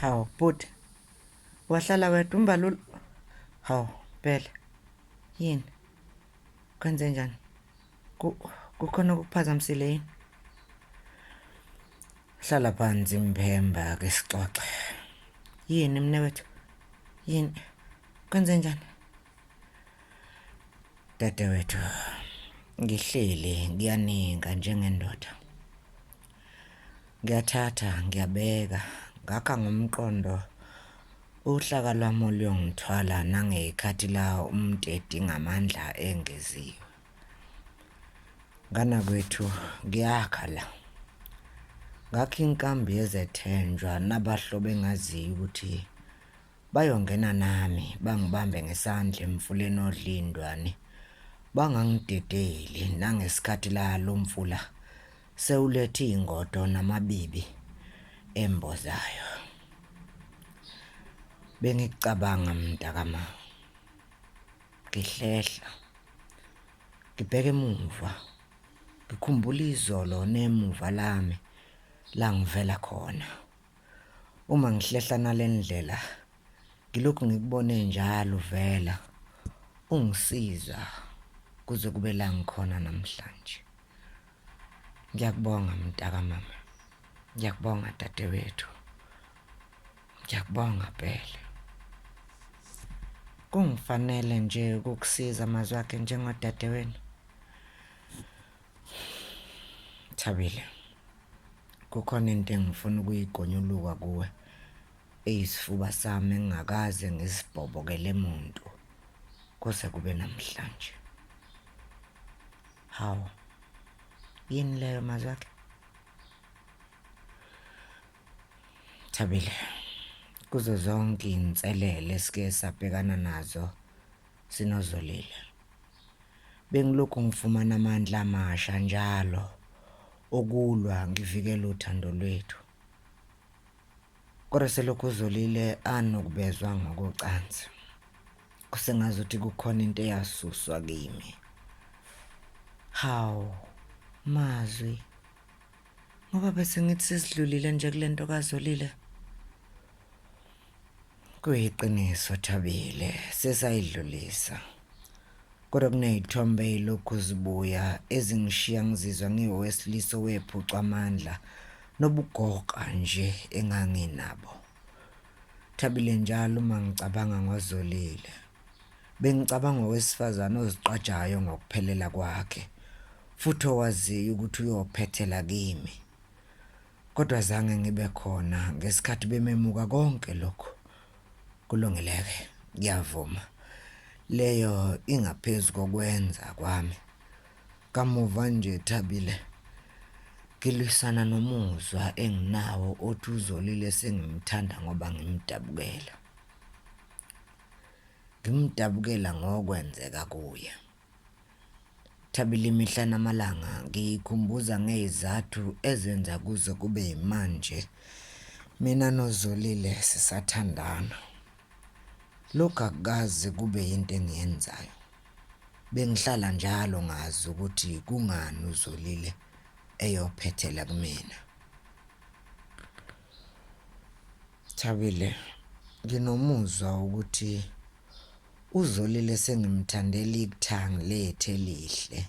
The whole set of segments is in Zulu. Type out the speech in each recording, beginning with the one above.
Hawu bhuti wahlala wedwa umbalula hawu phela yini kwenze njani kukhona okuphazamisile yini hlala phansi mphemba ke sixoxe yini mnewethu yini kwenze njani Dadewethu, ngihleli ngiyaninga njengendoda. Ngiyathatha, ngiyabeka, ngakha ngomqondo uhlaka lwami oluyongithwala nangeyikhathi la umuntu edinga amandla engeziwe. Nganakwethu, ngiyakha la. Ngakha inkambi yezethenjwa nabahlobo engaziyo ukuthi Bayongena nami bangibambe ngesandla emfuleni odlindwane. Bangangidedeli nangesikhathi la lo mfula sewulethe iy'ngodo namabibi embozayo. Bengicabanga mntakama. Ngihlehla. Ngibheke emuva. Ngikhumbula izolo nemuva lami langivela khona. Uma ngihlehla nalendlela ngilokhu ngikubone njalo vela ungisiza kuze kube la ngikhona namhlanje. Ngiyakubonga mntaka mama. Ngiyakubonga dadewethu. Ngiyakubonga phela. Kungifanele nje ukukusiza mazwi akhe njengodadewenu. Thabile kukhona into engifuna ukuyigonyuluka kuwe eyisifuba sami engingakaze ngisibhobokele muntu kuze kube namhlanje hawu yini leyo mazakhe Thabile kuzo zonke inselele esike sabhekana nazo Sinozolile. Bengilokhu ngifumana amandla amasha njalo okulwa ngivikela uthando lwethu. Kodwa selokhu uzolile anokubezwa ngokocansi. Kusengazi ukuthi kukhona into eyasuswa kimi. Hawu, mazwi. Ngoba bese ngithi sesidlulile nje kule nto kazolile. Kuyiqiniso Thabile, sesayidlulisa. Kodwa kunezithombe ezilokhu zibuya ezingishiya ngizizwa ngiwowesilisa owephucwa amandla nobugoqa nje enganginabo. Thabile njalo uma ngicabanga ngozolile. Bengicabanga owesifazane oziqajayo ngokuphelela kwakhe futhi owaziyo ukuthi uyophethela kimi. Kodwa zange ngibe khona ngesikhathi bememuka konke lokho. Kulungeleke, ngiyavuma. Leyo ingaphezu kokwenza kwami. Kamuva nje Thabile ngilwisana nomuzwa enginawo othi uzolile sengimthanda ngoba ngimdabukela. Ngimdabukela ngokwenzeka kuye. Thabile imihla namalanga ngiyikhumbuza ngey'zathu ezenza kuze kube yimanje mina noZolile sisathandana. Lokhu akukaze kube yinto engiyenzayo. Bengihlala njalo ngazi ukuthi kungani uZolile eyophethela kumina. Thabile, nginomuzwa wokuthi uzolile sengimthandela ikuthangi lethu elihle.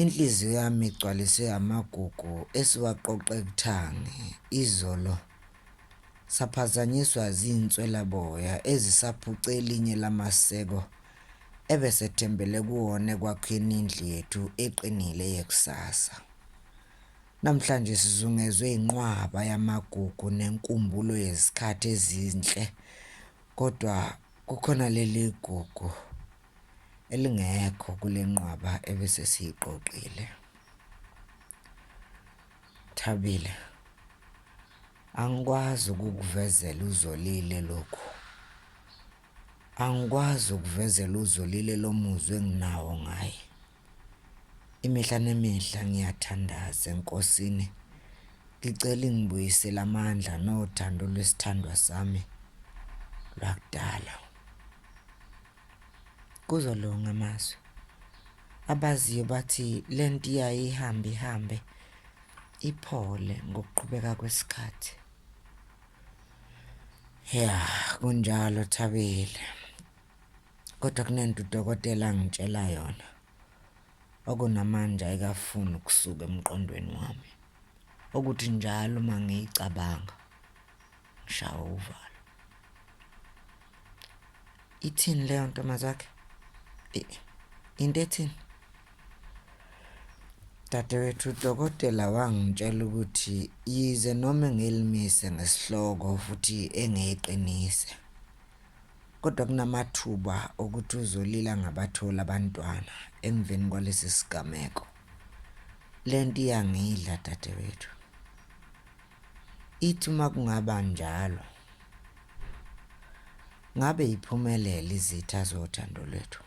Inhliziyo yami igcwaliswe amagugu esiwaqoqe kuthangi izolo saphazanyiswa zinswelaboya ezisaphuce elinye lamaseko ebesethembele kuwona ekwakheni indlu yethu eqinile yekusasa. Namhlanje sizungezwe inqwaba yamagugu nenkumbulo yezikhathi ezinhle kodwa kukhona leli gugu elingekho kule nqwaba ebese siyiqoqile. Thabile angikwazi ukukuvezela uzolile lokhu angikwazi ukuvezela uzolile lo muzwa enginawo ngaye Imihla nemihla ngiyathandaza enkosini ngicela ingibuyisele amandla nothando lwesithandwa sami lwakudala. Kuzolunga amazwi. Abaziyo bathi lento iyaye ihambe ihambe iphole ngokuqhubeka kwesikhathi. Yeah, kunjalo Thabile. Kodwa kunento udokotela angitshela yona. Okunamanje ayikafuni ukusuka emqondweni wami. Okuthi njalo uma ngiyicabanga ngishawa uvalo. Ithini leyo ntombazakhe? Into ethini? Dadewethu udokotela wangitshela ukuthi yize noma engilimise ngesihloko futhi engiyiqinise Kodwa kunamathuba okuthi uzolila ngabathola abantwana emveni kwalesi sigameko. Le nto iyangidla dadewethu. Ithi uma kungaba njalo, ngabe iphumelela izitha zothando lwethu.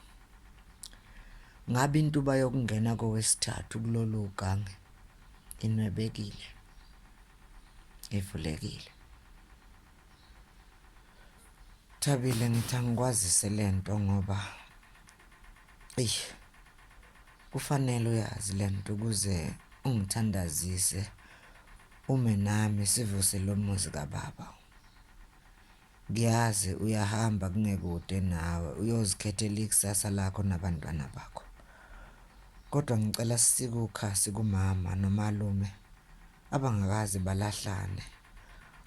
Ngabe intuba yokungena kowesithathu kulolu gange inwebekile, ivulekile. Thabile ngithi angikwazise lento ngoba eyi kufanele uyazi lento ukuze ungithandazise ume nami sivuse lo muzi kababa ngiyazi uyahamba kungekude nawe uyozikhethela ikusasa lakho nabantwana bakho kodwa ngicela sikukhasi kumama nomalume abangakaze balahlane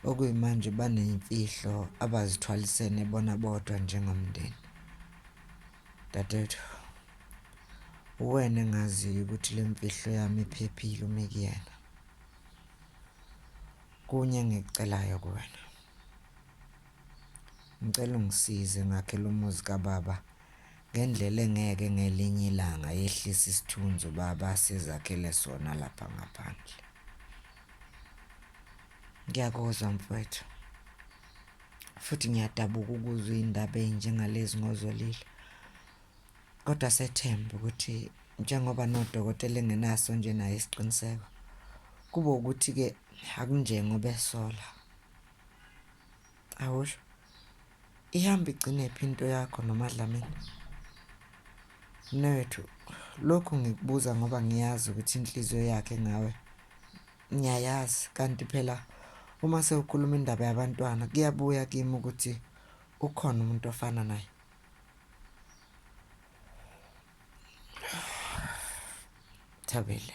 okuyimanje baneyimfihlo abazithwalisene bona bodwa njengomndeni dadethu uwena engaziyo ukuthi le mfihlo yami iphephile uma kuyena kunye engikucelayo kuwena ngicela ungisize ngakhe lo muzi kababa Ngendlela engeke ngelinye ilanga yehlisa isithunzi uBaba asizakhele sona lapha ngaphandle. Ngiyakuzwa mfwethu. Futhi ngiyadabuka ukuzwa indaba enjengalezi ngozolile. Kodwa sethemba ukuthi njengoba nodokotela engenaso nje naye isiqiniseko kube ukuthi ke akunjengoba esola. Awusho Ihamba igcinephi into yakho noMadlamini? Mnewethu, lokhu ngikubuza ngoba ngiyazi ukuthi inhliziyo yakhe ngawe ngiyayazi kanti phela uma sewukhuluma indaba yabantwana kuyabuya kimi ukuthi ukhona umuntu ofana naye. Thabile.